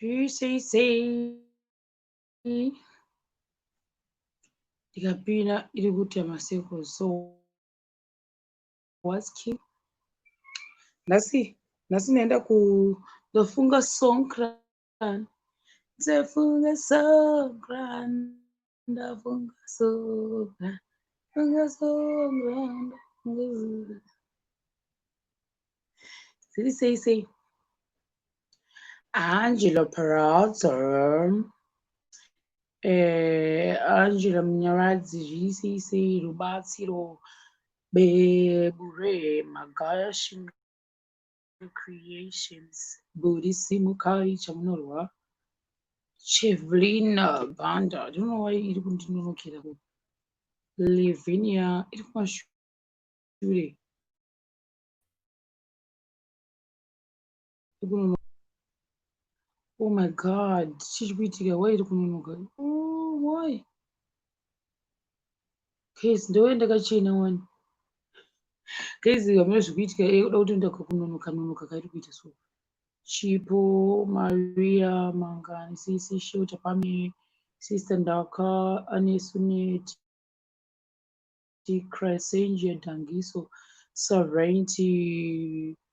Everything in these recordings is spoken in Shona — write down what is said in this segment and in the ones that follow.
UCC ndikapinda iri kuita macircles so what's key nhasi nhasi ndaenda ku ndofunga song Grand. Sefunga so grand. Ndafunga so grand. Funga so grand. Siri sei sei. Angelo Perazzo. Eh, Angelo Munyaradzi zviri sei sei rubatsiro beburema gaya shinga your creations. Buri simukai chamunorwa Chevelina Banda. I don't know why iri kundinonokera ku Lavinia iri kumashure. Oh my god, chiri kuitika why iri kunonoka? Oh why? Case ndouya ndakachena wani. Case hamuna zvikuitika iye kuda kutoenda kunonoka nonoka kairi kuita so. Chipo, Maria, Mangani, Sisi, Shota, Pame, Sister Ndaka, Anesunet, Christ, Angel, Dangiso, Sovereignty,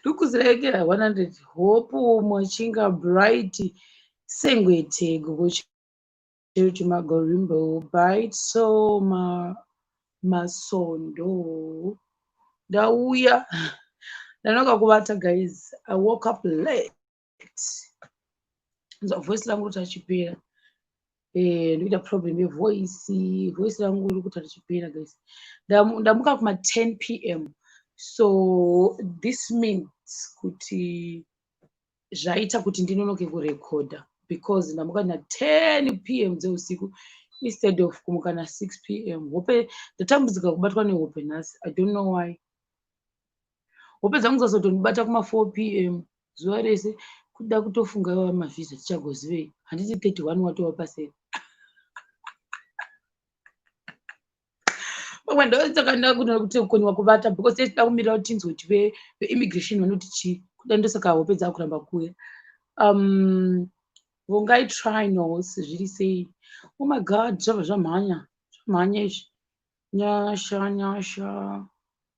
ndokuziraekera 100 hope mwachinga bright sengwetego kuti magorimbo bright so ma masondo ndauya ndanoka kuvata guys i woke up late nzwa voice rangu roti achipera eh, ndoita problem yevoice voice rangu iri kuti richipera guys ndamuka kuma 10 p m so this means kuti zvaita kuti ndinonoke kurekodha because ndamuka na 10 p m dzeusiku instead of kumuka na 6 p m hope ndatambudzika kubatwa nehope nhasi i don't know why wopedza kuzozotondibata kuma 4 pm zuva rese kuda kutofunga iwawa mavhiza tichagozivei handiti 31 watova paseri pamwe ndosaka ndakuda kuti kukoniwa kubata because tinoda kumirira kuti tinzwe kuti veimmigration vanoti chii kuda ndosaka hope dzakuramba kuya um vongai trinos zviri sei oh my god zvabva zvamhanya zvamhanya izvi nyasha nyasha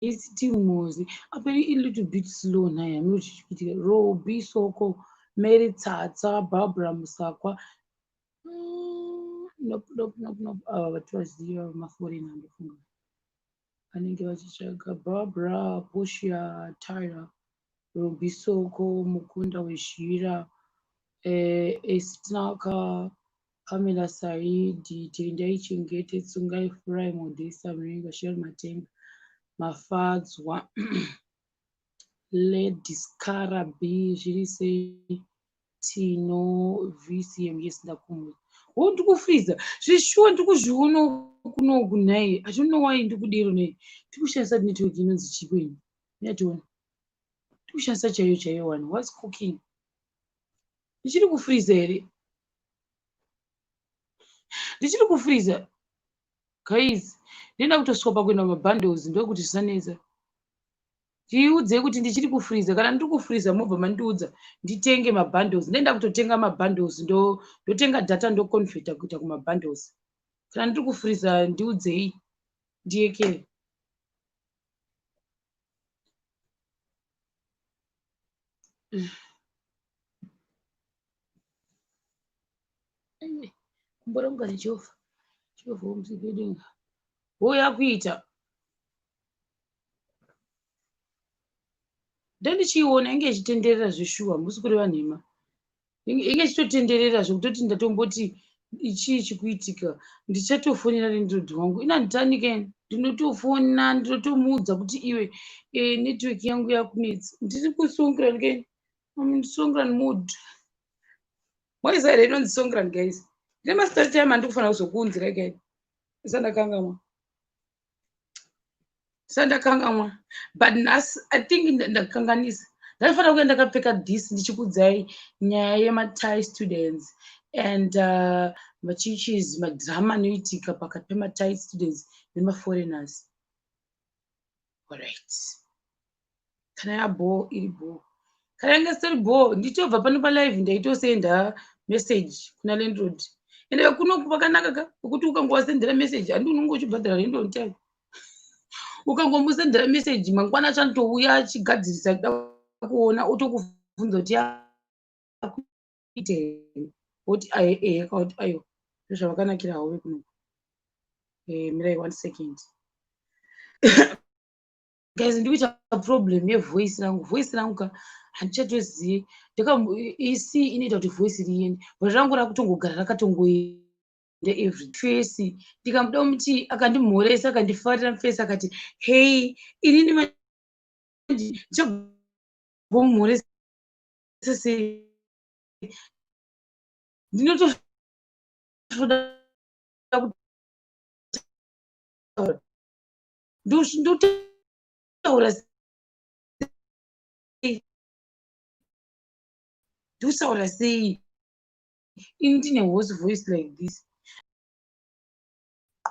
It's still Mozi. Aperi a little bit slow nhai hameno chichipitika. Robi Soko, Mary Tsatsa, Barbara Musakwa. Mm, nope, nope, nope, nope. Ava vati vaziva maforina ndofunga. Vanenge vachitsvaga Barbara, Portia, Tyra. Rubisoko mukunda wezhira eh, esitinaka Pamela Saidi Tendai Chengete Tsungai Furai Modesta Mringa Shel Matenga Mafadzwa Lady Skara B zviri sei Tino VCM yes ndakumbuka wo oh, ndikufriza zvishuwa ndikuzviona kunoku nhai I don't know why ndikudero nei ndikushandisa network inonzi chikweni nyationa tikushandisa chaiyo chaiyo wani was cooking ndichiri kufriza here ndichiri kufriza guys ndinoda kutosvika pakuenda mabundles ndokuti zvisanetsa tiudzei kuti ndichiri kufriza kana ndiri kufriza mobva mandiudza nditenge mabundles ndoenda kutotenga mabundles ndotenga data ndoconveta kuita kumabundles kana ndiri kufriza ndiudzei ndiyekere kumboronga nejehovha jehovha womuzivedenga wouya kuita ndandichiiona inge ichitenderera zveshuwa musi kuri vanhema inge chitotenderera zvekutoti ndatomboti chii chikuitika ndichatofonera nendrod wangu ina nditanike ndinotofona ndinotomuudza kuti iwe e, network yangu yakunetsa ndiri kusongran ke songran mood moisa here inonzi songran guys ndine masitati time andikufanira kuzokuunzira gai isa ndakangamwa sandakangamwa but nhasi i think ndakanganisa ndaifanira kuya ndakapfeka this ndichikudzai nyaya yematie students and uh, machichis madrama anoitika pakati pematie students nemaforeigners alright kana yabhoo iri bhoo kana yange isiri bhoo ndichobva pano palive ndaitosenda message kuna landlord ende kuno kwakanaka ka kwekuti ukangovasendera message handi unenge uchibhadhara rendo on time ukangomusendera message mangwana achanotouya achigadzirisa kuda kuona otokubvunza kuti akuitei woti ae ee akauti ayo ndozvavakanakira havo vekunoku eh, mirai one second guys ndikuita problem yevoice rangu voice rangu ka handichatozive ndakaisi inoita kuti voice riende but rangu rakutongogara rakatongoenda every face ndikamuda muti akandimhoresa akandifarira mufesi akati hei inini ndichagomhoresa sei ndinotoda kutaura ndotaura ndotaura sei ini ndine hose voice like this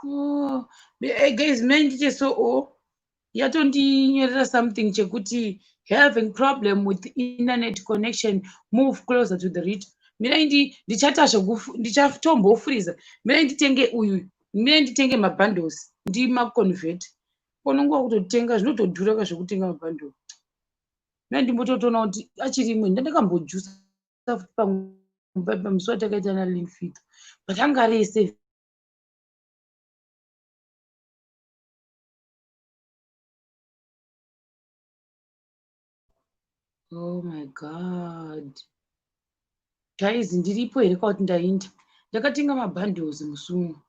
oh, eh, guys mai ndiite so o oh, yatondinyorera something chekuti having problem with internet connection move closer to the rit mirai ndichatasva ndichatombofuriza mirai nditenge uyu me nditenge mabundles ndimaconvert kono nguva kutotenga zvinotodhura ka zvekutenga mabundle na ndimbototoona kuti achiri imwe ndandakambojusa futi pamusi watakaita na linfit but anga ari ese Oh my God. Guys, ndiripo here kwauti ndainda. Ndakatenga mabundles musungu.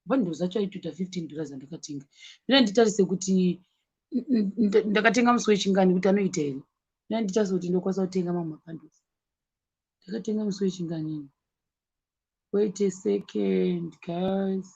Bundles acho aitoita 15 dollars andakatenga. Ndina nditarise kuti ndakatenga musi wechingani kuti anoita here. Ndina nditarise kuti ndokwanisa kutenga mamwe mabundles. Ndakatenga musi wechingani. Wait a second, guys.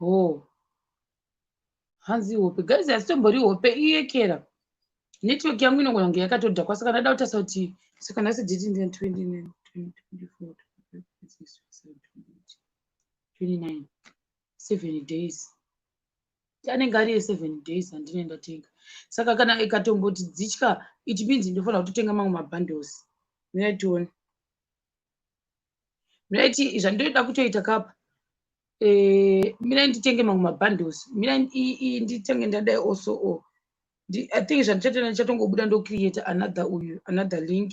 hoo hanzi hope guys hasitombori hope iyekera network yangu inogona kunge yakatodhakwa saka ndada kutarisa kuti saka nhasi diti ndi 29 seven days anenge ari eseven days andine ndatenga saka kana ikatomboti dzitya it means ndofanira kutotenga mamwe mabundles mira tione miraiti zvandoda kutoita kapa eh, mira nditenge mamwe mabundles mira nditenge ndadai also o oh. i think zvandichatenda ndichatongobuda ndocreate another uyu another link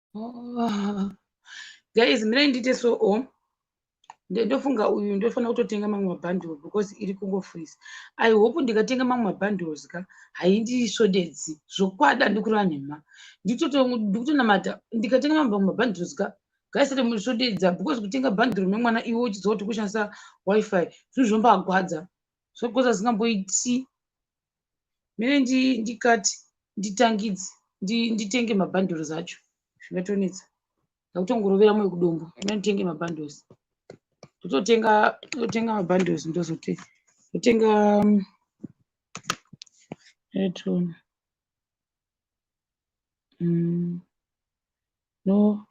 Oh. Guys, mira ndite so o. Oh. Ndofunga uyu ndofana kutotenga mamwe mabundle because iri kungo freeze. I hope ndikatenga mamwe mabundles ka haindi shodedzi zvokwada ndikureva nhema. Ndikutonamata ndikatenga mamwe mabundles ka gaisati musodedza because kutenga bundle memwana iwe uchiziva kuti kushandisa wifi zvinhu zvombagwadza zvogwadza zvingamboiti mene ndikati nditangidze nditenge mabundles acho zvinotonetsa ndakutongorovera moyo kudombo mene nditenge mabundles ndototenga ndotenga mabundles ndozote ndotenga mm, etona mm, no